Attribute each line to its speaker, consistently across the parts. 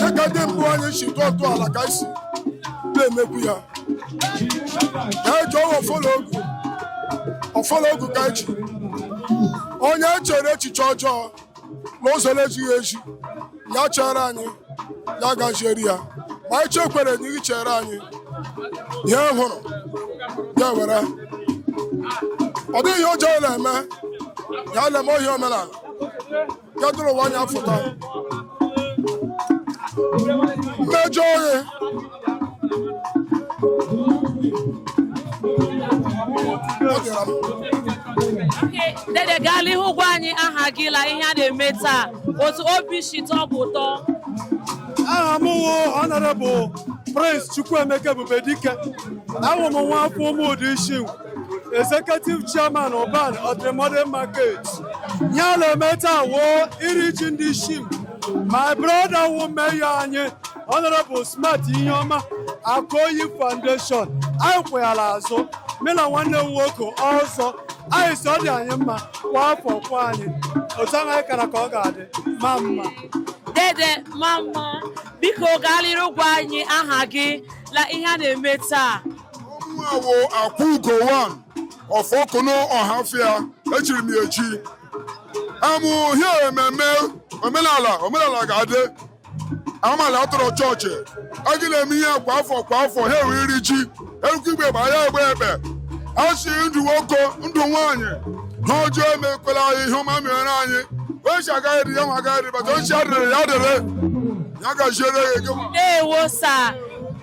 Speaker 1: dịka ndị mbụ anyị si tọọ ntọala ka e si na-emekwu ya ka eji wụ ọfọ la ogu ọfọ la ogu ka eji onye chere echiche ọjọọ na ụzọ na-ezighị ezi ya chere anyị ya gahiere ya ma anyị chekwere na ị chere anyị ihe ọ hụrụ ya were ọ dịghị ihe ọjọọ na-eme ihe a na-eme ọ wụ omenala kedụrụ ụwa anya fụta mmejọ
Speaker 2: oghe dede gaa l'ihu gwa anyị aha gị la ihe a na-eme taa otu obi si tọọ gị ụtọ
Speaker 3: aha m wụ honorable prince chukwuemeka ebubedike awụ m nwa afọ ụmụda isi executive chairman Ubani Ultra Modern Market ihe a na-eme taa wụ iri ji ndị Isingwu my brother wụ mayor anyị honorable Smart Iheọma Akoyi foundation anyị kwụ ya l'azụ mụ na nwanne m nwoke ọzọ anyị si ọ dị anyị mma kwa afọ kwa anyị otu ahụ anyị kara ka ọ ga-adị ma mma dede
Speaker 2: ma mma biko gaa n'iru gwa anyị aha gị la ihe a na-eme taa ọ mụnwa
Speaker 1: wụ akwụugo one of okon ọhafịa echiri m ya echi amụ ihe ememme omenala omenala ga-adị amala atụrụ chọọchị anyị na-eme ihe kwa afọ kwa afọ ha enwe iri ji erukwe ịgba ekpe a gbaa ekpe a si ndụ nwoke ndụ nwaanyị ihe ọjọọ emekwela anyị ihe ọma mere anyị ochi agaghị dị ya nwa agaghị dị bata ochi adịrị ya adịrị ya gaziere ya ego ndewo sa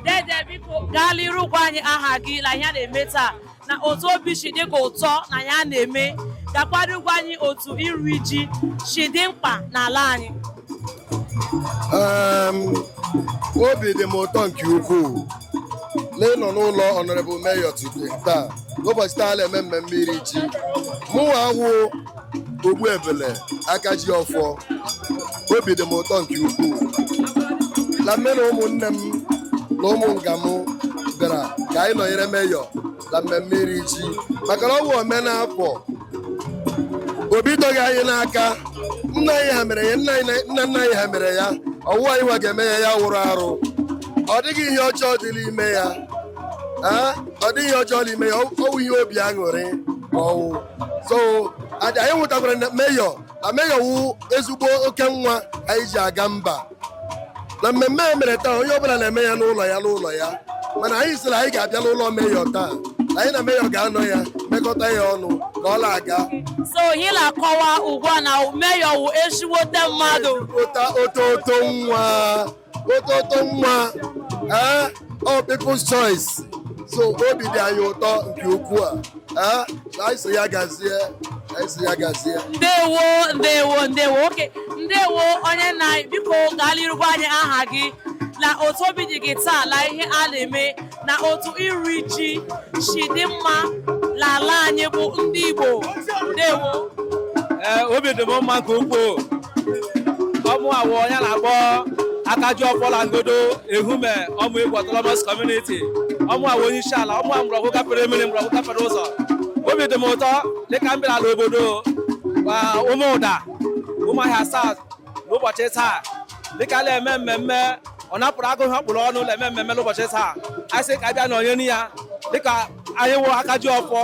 Speaker 2: dede biko gaa n'iru gwa anyị aha gị na ihe a na-eme taa na otu obi si dị gị ụtọ n'ihe a na-eme gakwado gwa anyị otu iri ji si dị mkpa n'ala anyị
Speaker 4: obi dị m ụtọ nke ukwuu n'ịnọ n'ụlọ honorable mayor today taa n'ụbọchị taa na-eme mmemme iri ji mụnwa awụ ogbu ebele aka ji ọfọ obi dị m ụtọ nke ukwuu na mụ na ụmụnne m na ụmụnna m bịara ka anyị nọnyere mayor na mmemme iri ji maka na ọ bụ omenala o bidoghị anyị n'aka nna anyị ha mere ya nna anyị- nna nna anyị ha mere ya ọ wụ anyị nwa ga-eme ya ya wụrụ arụ ọ dịghị ihe ọjọọ dị n'ime ya Ee, ọ dịghị ihe ọjọọ n'ime ya ọ wụ ihe obi aṅụrị ma ọ wụ so anyị nwetakwara na Mayor na Mayor wụ ezigbo oke nwa anyị ji aga mba na mmemme a mere taa onye ọbụla na-eme ya n'ụlọ ya n'ụlọ ya mana anyị sịrị anyị ga-abịa n'ụlọ Mayor taa anyị na Mayor ga-anọ ya mekọta ya ọnụ ka ọ na-aga so
Speaker 2: ihe na-akọwa ugbu a na Mayor wụ ezigbote mmadụ ota ototo
Speaker 4: nwa ototo nwa ee ọ people's choice so obi dị anyị ụtọ nke ukwuu a ee na anyị so ya gazie anyị so ya gazie
Speaker 2: ndewo ndewo ndewo oke ndewo onye nna biko gaa n'iru gwa anyị aha gị na otu obi dị gị taa na ihe a na-eme na otu iri ji si dị mma n'ala anyị bụ ndị Igbo ndewo ee
Speaker 5: obi dị m mma nke ukwuu ọ mụa wụ onye a na-akpọ Akajiọfọ la Ngodo Ehume Ọmaegwu autonomous community ọ mụa wụ onye isi ala ọ mụa mgbọrọgwụ gafere mmiri mgbọrọgwụ gafere ụzọ obi dị m ụtọ dịka m bịara n'obodo Ụmụda Ụmụahịa South n'ụbọchị taa dịka a na-eme mmemme ọ napụrụ agụ ihe ọ kpụrụ ọnụ na-eme mmemme n'ụbọchị taa anyị sị ka abịa nọnyere ya dịka anyị wụ aka ji ọfọ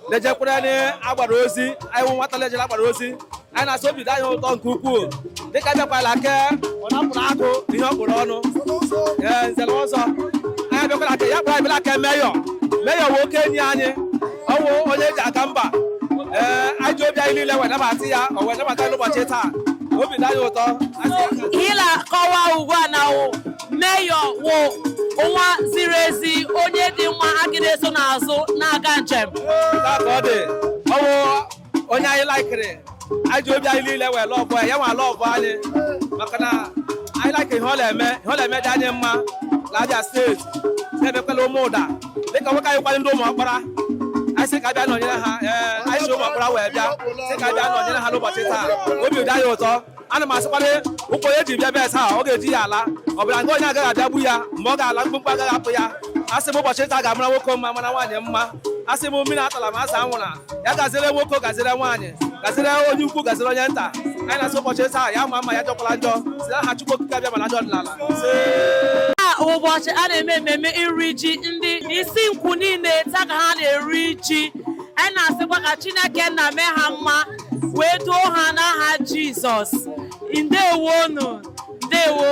Speaker 5: na-ejekwerenụ agbara ozi anyị wụ nwata na-ejere agbara ozi anyị na-asị obi dị anyị ụtọ nke ukwuu dịka abịakwala ke ọ napụrụ agụ ihe ọ kpụrụ ọnụ ee nze na ọzọ anyị abịakwala ke ya kpụrụ anyị bịara ke Mayor Mayor wụ oke enyi anyị ọ wụ onye e ji aga mba ee anyị ji obi anyị niile wee nabata ya o wee nabata n'ụbọchị taa obi dị anyị ụtọ ihe
Speaker 2: la-akọwa ugbu a na Mayor wụ nwa ziri ezi onye dị mma a ga na-eso n'azụ na-aga njem
Speaker 5: onye anyị laikiri anyị ji obi anyị niile wee lọvụọ ya nwa lọvụọ anyị maka na anyị laikiri ihe ọ na-eme ihe ọ na-eme dị anyị mma na Abia steeti na-emekwa la Ụmụda dịka nwoke anyị kwanye ndị Ụmụọkpara anyị sị ka abịa nọnyere ha ee anyị si Ụmụọkpara wee bịa sị ka abịa nọnyere ha n'ụbọchị taa obi dị anyị ụtọ ana m asịkwana ụkwụ onye ji bịa bịa taa ọ ga-eji ya ala ọ bịara nga onye agaghị abịagbu ya mgbe ọ ga-ala mkpumkpu agaghị apụ ya asị m ụbọchị taa ga-amara nwoke mma mara nwaanyị mma asị m mmiri atala ma azụ anwụla ya gaziere nwoke gaziere nwaanyị gaziere onye ukwu gaziere onye nta anyị na-asị ụbọchị taa ya ma mma ya ajọkwala njọ si na aha Chukwu okike abịama na ọdịnala
Speaker 2: ụbọchị a na-eme ememe iri ji ndị Isingwu niile taa ka ha na-eri ji anyị na-asịkwa ka Chineke nna mee ha mma wee duo ha n'aha Jizọs ndewonu ndewo